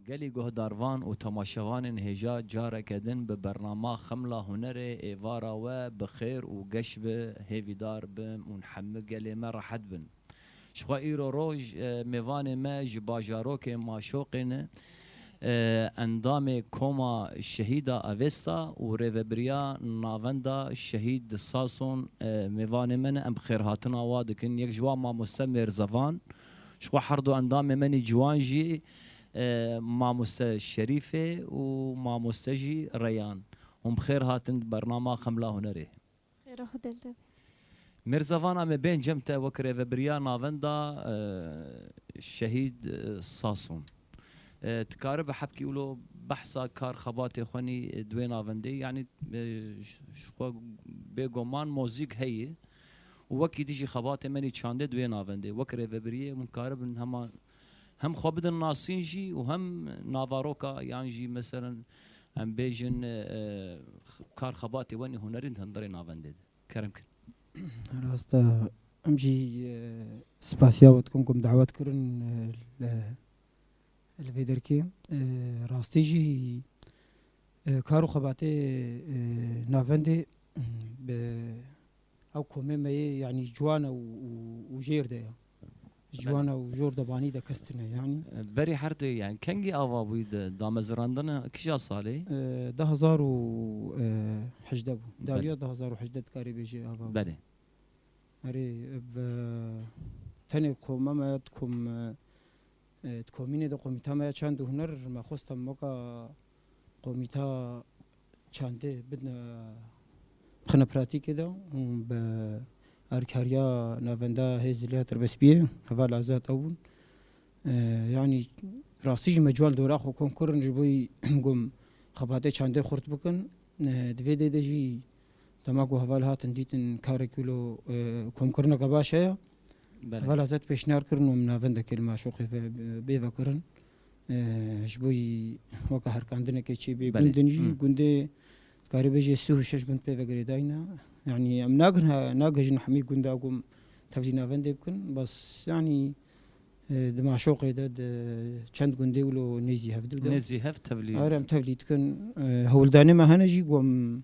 Gelê guhdarvan û temaşevanên hêja careke din bi bernama Xemla Hunerê êvara we bi xêr û geş bi hêvîdar bin û hemû gelê me rehet bin. Jixwe îro roj mêvanê me ji bajarokê Maşoqê ne endamê Koma Şehîda Avesta û Rêvebiriya Navenda Şehîd Sason mêvanê me ne em xêrhatina wa dikin. Yek ji wan Mamoste Mêrzevan jixwe herdu endamê me nî ciwan jî Mamoste Şerîfê û Mamoste jî Reyan. Hûn bi xêr hatin di bernama Xemla Hunerê. Xêra xwe dil de be. Mirza van em ê bên cem te wek rêvebiriya navenda Şehîd Sason. Tu karibe hebkî wilo behsa kar xebatê xwe nî di wê navendê yanî ji xwe bêgoman mozîk heye û wekî dijî xebatê me nî çandê di wê navendê wek rêvebiriyê hûn karibin hema Hem xwe bidin nasîn jî û hem navaroka yan jî meselen em bêjin kar xebatê wenê hunerîn di hundirê navendê de kerem kin. Rast e. Em jî spasiya we dikim ku em dawet kirin li vê derkê. Rastî jî kar û xebatê navendê bi ew komê me yê yanî ciwan e û jêr de ye. Ji wana û jor de banî de kes tune yanî. Berî her tu yani kengî ava bûyî di damezirandina kîja salê? Du hezar û hejdeh bû. Dawiya du hezar û hejdeh dikarî bêjî ava bû. Belê. Erê bi tenê koma me di kom di komînê de komîta me ya çand û huner me xwest em weka Komîta çandê bidine xine pratîkê de û bi alîkariya Navenda Hêz Zilya Tirbespiyê heval azad ew bûn. Yanî rastî jî me ciwan dora xwe kom kirin ji bo gom xebatê çandê xurt bikin. Di vê dê de jî dema ku heval hatin dîtin karê ku lo komkirineke baş heye. Heval azad pêşniyar kirin û min navendekê li maşoqê bê vekirin. Ji bo wî weke herkandineke çê bê gundin jî gundê dikarî bêjê sih û şeş gund pê ve girêdayîne. Yanî em nakin nagihîjin hemî gunda ku em tevlî navendê bikin. Bes yanî di maşoqê de di çend gundê wilo nêzî hev dibin. Nêzî hev tevlî. Are em tevlî dikin. Hewldanê me hene jî ku em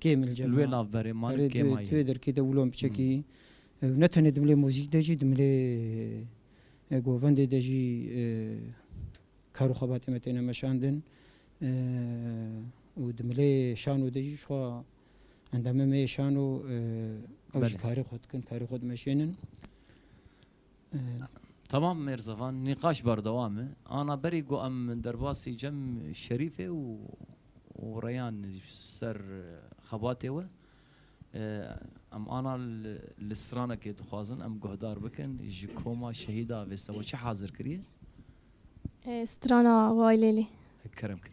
Kêmil Cemal. Li wê navberê ma li kêma ye. Erê tu yê derkê de wilo piçekî ew ne tenê dimilê muzîk de jî dimilê govendê de jî kar û xebatê me têne meşandin û dimilê şano de jî jixwe endamê me yê şano ew jî karê xwe dikin, karê xwe dimeşênin. Tamam Mêrzevan, nîqaş berdewam e. Ana berî ku em derbasî Cem Şerîfê û Reyan ji ser xebatê we em ana li stranekê dixwazin em guhdar bikin ji koma şehîda vê seba çi hazir kiriye? Strana Waylêlê. Kerem kir.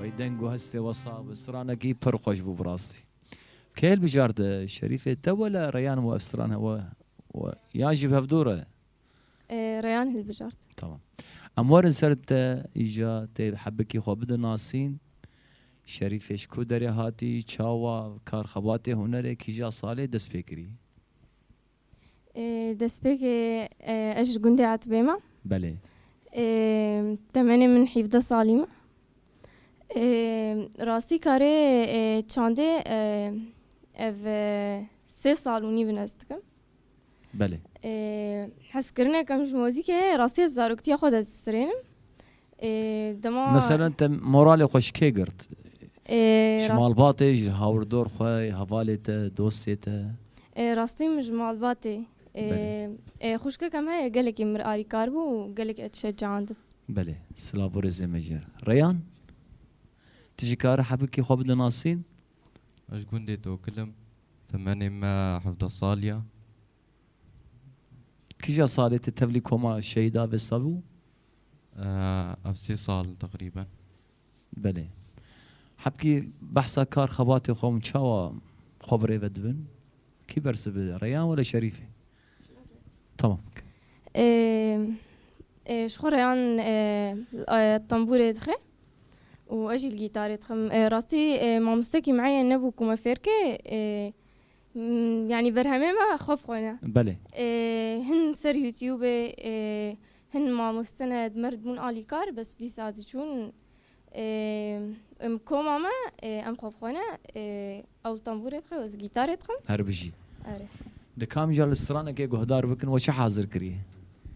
Wey deng û hestê wesab bi stranekî pir xweş bû bi rastî. Keyl bijarde, Şerîfê te wele Reyan û ev stran hewa we yan jî bi hev dûr e? Reyan hilbijart. Tamam. Em werin ser te îja tê hebikî xwe bidin nasîn. Şerîfê ji ku derê hatî, çawa, kar xebatê, hunerê, kîja salê dest pê kirî? Destpêkê ez ji gundê Etbê me. Belê. Temenê min hîvdeh salî me. Rastî karê çandê ev sê sal û nîv in ez dikim. Belê. Hezkirinek em ji mozîkê heye rastî ez zaroktiya xwe dest distirênim. Meselen te moralê xwe ji kê girt? Ji malbatê, ji hawirdor xwe, hevalê te, dostê te? Rastî min ji malbatê. Xwişkeke me ye gelekî mir alîkar bû û gelekî ez şecandin. Belê, silav û rêzê me ji yer. Reyan, tu jî kar î hebikî xwe bide nasîn? Ez ji gundê Tokil im. Temenê me hevdeh sal ye. Kija salê te tevlî koma şehîda Vesta bû? Ev sê sal in teqrîben. Belê. Hebkî behsa kar xebatê xwe hûn çawa xwe bi rê ve dibin? Kî bersiv bide? Reyan were Şerîfê? Tamam. Ji xwe Reyan tembûrê dixe û ez jî li gîtarê dixim. Rastî mamoste kîmeyayê nebû ku me fêr ke Yanî berhemê me xwe bi xwe ne. Belê. Hin ser youtubê hin mamoste ne di mer dibûn alî kar bes dîsa diçûn em koma me em xwe bi xwe ne ew tembûrê dixwe ez gîtarê dixwim. Herbijî. Erê. Dikamî ca li stranekê guhdar bikin we çi hazir kiriye?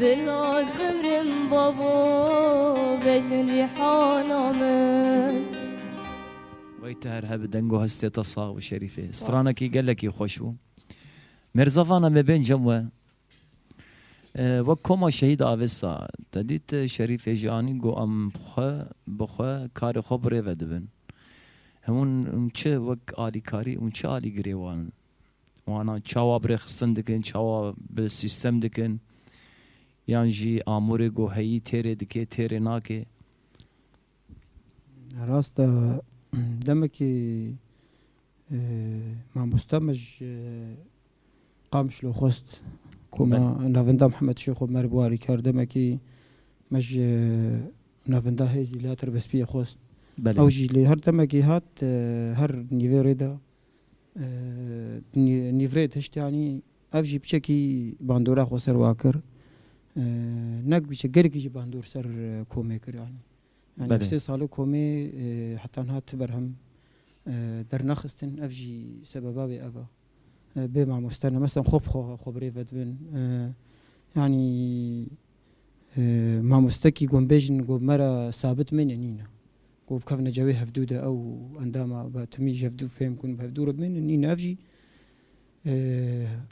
Bi naz bimrim babo vejin rîhana min. Wey te her hebi deng û hestê te sax bi Şerîfê. Stranekî gelekî xweş bû. Mêrzavana me bên cem we. Wek koma şehîd avêsta. Te dît Şerîfê jî anî got em xwe bi xwe karê xwe birêve dibin. Hûn çi wek alîkarî û çi alîgirê wan in. wana çawa birêxistin dikin, çawa bi sîstem dikin yan jî amûrê ku heyî têrê dike têrê nake. Rast e demekî mamosta me ji Qamişlo xwest ku me navinda Mihemed Şêxo Merv û alîkar demekî me ji navinda hêzî li ya Tirbespiyê xwest. Ew jî lê her demekî hat her nîvê rê de Nîvrê Tiştyanî ev jî piçekî bandora xwe ser wa kir. Nek piçe gelekî jî bandor ser komê kir yanî. Yanî sê sali komê heta niha ti berhem dernexistin ev jî sebeba wê ev e. Bê mamoste ne. Meselem xwe bi xwe birêve dibin. Yanî Mamostekî gonbêjin got me re sabit mêne nîne. Got bikevne cewê hevdû de ew û endama be timî ji hevdû fêm bûn bi hevdû re bimênin nîne ev jî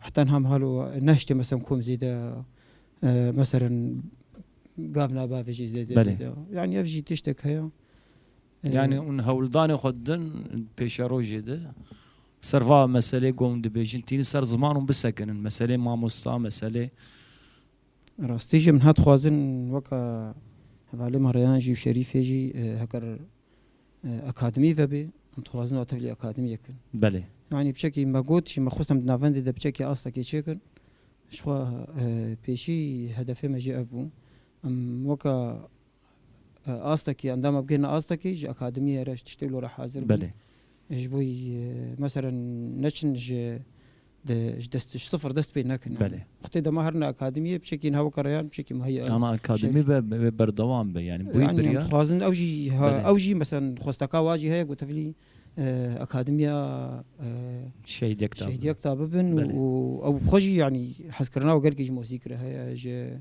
heta niha min halo nehiştê meselem kom zêde meselem gav naba vê jî zêde zêde yanî ev jî tiştek heye. Yanî hûn hewldanê xwe didin pêşerojê de ser va meselê got hûn dibêjin tînin ser ziman hûn bisekinin meselê mamosta meselê Rastî jî min hat xwazin weka hevalê me Reyan jî û Şerîfê jî heger akademî vebê em dixwazin û tevlî akademîyek in. Belê. Yanî biçekî me got jî me xwest em di navendê de biçekî astekê çêkin. Jixwe pêşî hedefê me jî ev bû. Em weka Astekî, endama bigihîne astekî ji akademiyê re ji tiştê wilo re hazir bûn. Belê. Ji bo mesela neçin ji di ji dest ji sifir dest pê nekin. Belê. Xwitê dema herin akademiyê biçekî niha weke reyan biçekî muheya. Ama akademî ve wê berdewam be yanî bûyî biryar. Yanî em dixwazin ew jî ew jî mesela xwesteka wa jî heye ku tevlî akademiya Şehîd Yekta Şehîd Yekta bibin û ew xwe jî yanî hezkirina we gelkî ji mozîk re heye ji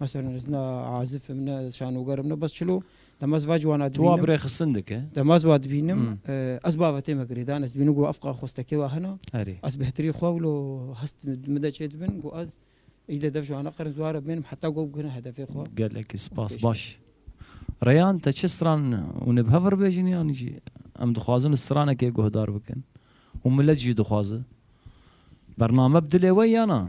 Mesela ez ne azif im, ne şanoger im, ne bes çilo. Dema ez va ciwana dibînim. Tu wa bi rê xistin dike? Dema ez wa dibînim, ez babetê me girêdan. Ez dibînim ku ev xwestekê wa hene. Erê. Ez bi hitirî xwe wilo hest min de çê dibin ku ez î de dev ji wana qerin ziwar re bimênim heta ku ew bigihne hedefê xwe. Gelekî spas. Baş. Reyan te çi stran hûn ê bi hev re bêjin yanî jî em dixwazin stranekê guhdar bikin û milet jî dixwaze. Bername bi dilê we ya na?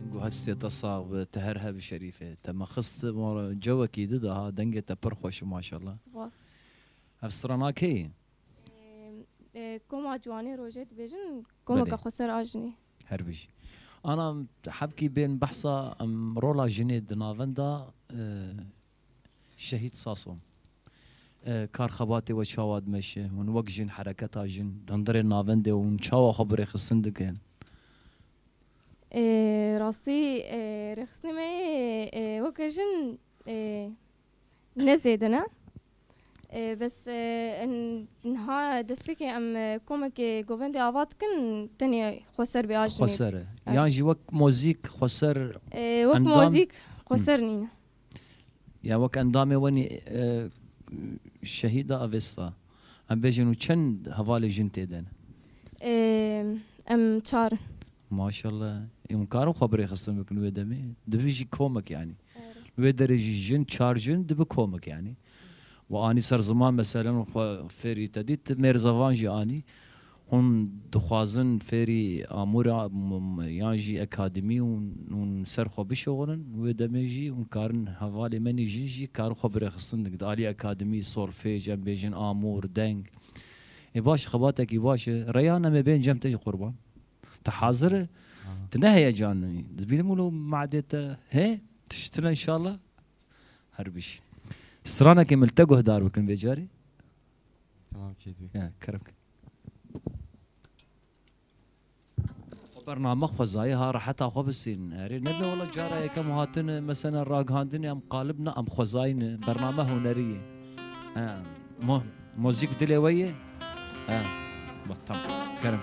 Engo hestê te sax bi, te her hev şerîf e. Te me xist mala cewekî di de ha, dengê te pir xweş e maşallah. Spas. Hevstrana kê ye? Koma Ciwanê Rojê dibêjin, komeke xweser a jinê. Her bijî. Ana hevkî bên behsa rola jinê di navenda Şehîd Saso, Kar xebatê we çawa dimeşe? Hûn wek jin, hereketa jin, dindirê navendê hûn çawa xwe bi rêxistin dikin? Rastî rêxistinê me yê weke jin ne zêdin e. Bes niha destpêkê em komekê govendê ava dikin tenê xweser bê ajinê. Xweser e. Yan jî wek mozîk xweser endam? Wek mozîk xweser nîne. ya wek endamê wenî şehîda Avesta em bêjin û çend hevalê jin tê de ne? Em çar in. Maşallah. Ê hûn karin xwe bi rêxistin bikin wê demê? Dibi jî komek yanî. Li wê derê jî jin çar jin dibi komek yanî. We anî ser ziman meselen xwe fêrî te dît mêrzavan jî anî Hûn dixwazin fêrî amûra yan jî akademî hûn ser xwe bişoxînin wê demê jî hûn karin hevalê me nî jin jî karin xwe birêxistin di aliyê akademî solfêj em bêjin amûr deng ê baş xebatekî baş e reyhan em ê bên cem te jî qurban te hazir e tu ne heyecanî dibînim wilo meadê te hê tişt tune inşallah her bîjî stranekê min li te guhdar bikin vê carî. Tamam Çêt bî. Kerem. Bername xwezayê ha reheta xwe bisînin. Erê nebe wala cara yekem hatin mesela ragihandinê em qalib ne em xwezayîn e. Bername hunerî ye. Mo mozîk dilê we ye? Ha. Bak tam. Kerim.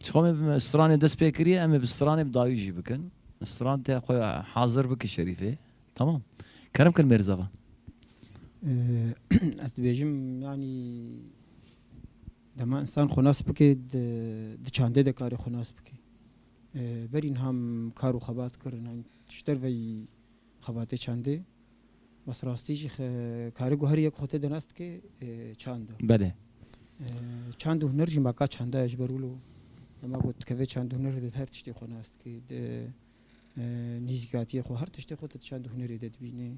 Çixwe me bi stranê dest pê kiriye em ê bi stranê bi dawî jî bikin. Stran te xwe hazir bike şerîfê. Tamam. Kerem kir mêrzava. Ez dibêjim yanî dema insan xwe nas bike di çandê de karê xwe nas bike. Berî niha min kar û xebat kir. Ji derveyî Xebatê çandê bes rastî jî kari ku her yek xwe tê de nas dike çand e. Belê. Çand û huner jî ma ka çanda ye ji ber wilo dema ku dikevê çand û hunerê de her tiştê xwe nas dike. Di nîzîkatiyê xwe her tiştê xwe tu di çand û hunerê de dibînî.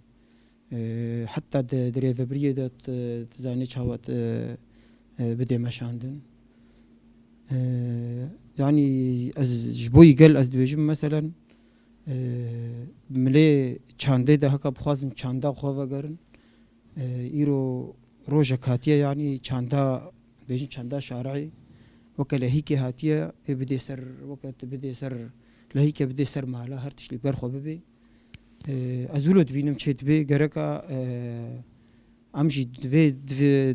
Heta di di rêvebiriyê de tu zanî çawa tu bidê meşandin. Yanî ez ji bo yî gel ez dibêjim meselen Milê çandê de haka bixwazin çanda xwe vegerin. Îro rojek hatiye yanî çanda bêjin çanda şareyê weke lehîkê hatiye pê bidê ser weke tu bidê ser lehîke bidê ser mala her tişt li ber xwe bibê. Ez wilo dibînim çê dibê gereka em jî divê divê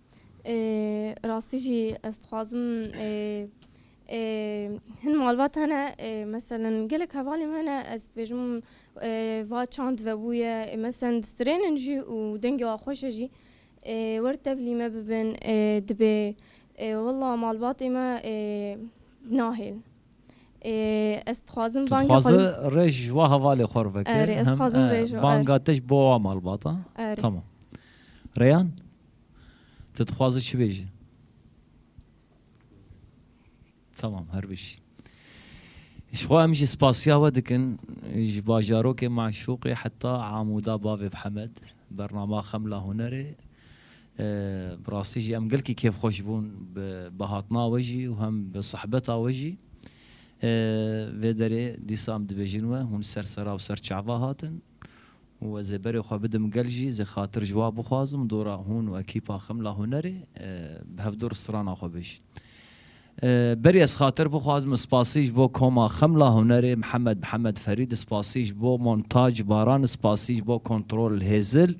Rastî jî ez dixwazim hin malbat hene meselin gelek hevalên me hene ez dibêjim va çand vebûye meselin distrênin jî û dengê wan xweş e jî wer tevlî me bibin dibê wela malbatê me nahêlin ez dixwazim bangê xwe li rêj ji wan hevalê xwe re veke banga te ji bo wan malbata tamam Rêyan. Tu dixwazî çi bêjî? Tamam her bişî. Ji xwe em jî spasiya we dikin ji bajarokê Maşûqê heta Amûda bavê bi Hemed bernama Xemla Hunerê bi rastî jî em gelkî kêfxweş bûn bi hatina we jî û hem bi sihbeta we jî. Vê derê dîsa em dibêjin we hûn ser sera û ser çava hatin. û ez ê berê xwe bidim gel jî zê xatir ji wa bixwazim dora hûn û ekîpa Xemla Hunerê bi hevdor strana xwe bijîn. Berê ez xatir bixwazim spasî ji bo koma Xemla Hunerê Mihemed Mihemed Ferîd, spasî ji bo Montaj Baran, spasî ji bo Kontrol Hêzil,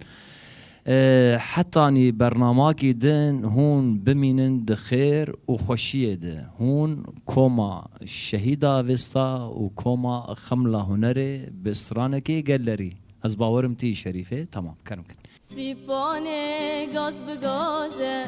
Hetanî bernamakî din hûn bimînin di xêr û xweşiyê de. Hûn koma Şehîda Vista û koma Xemla Hunerê bi stranekê gellerî. Ez bawerim tî Şerîfê tamam ker bikin. Sîpanê gaz bi gaz e.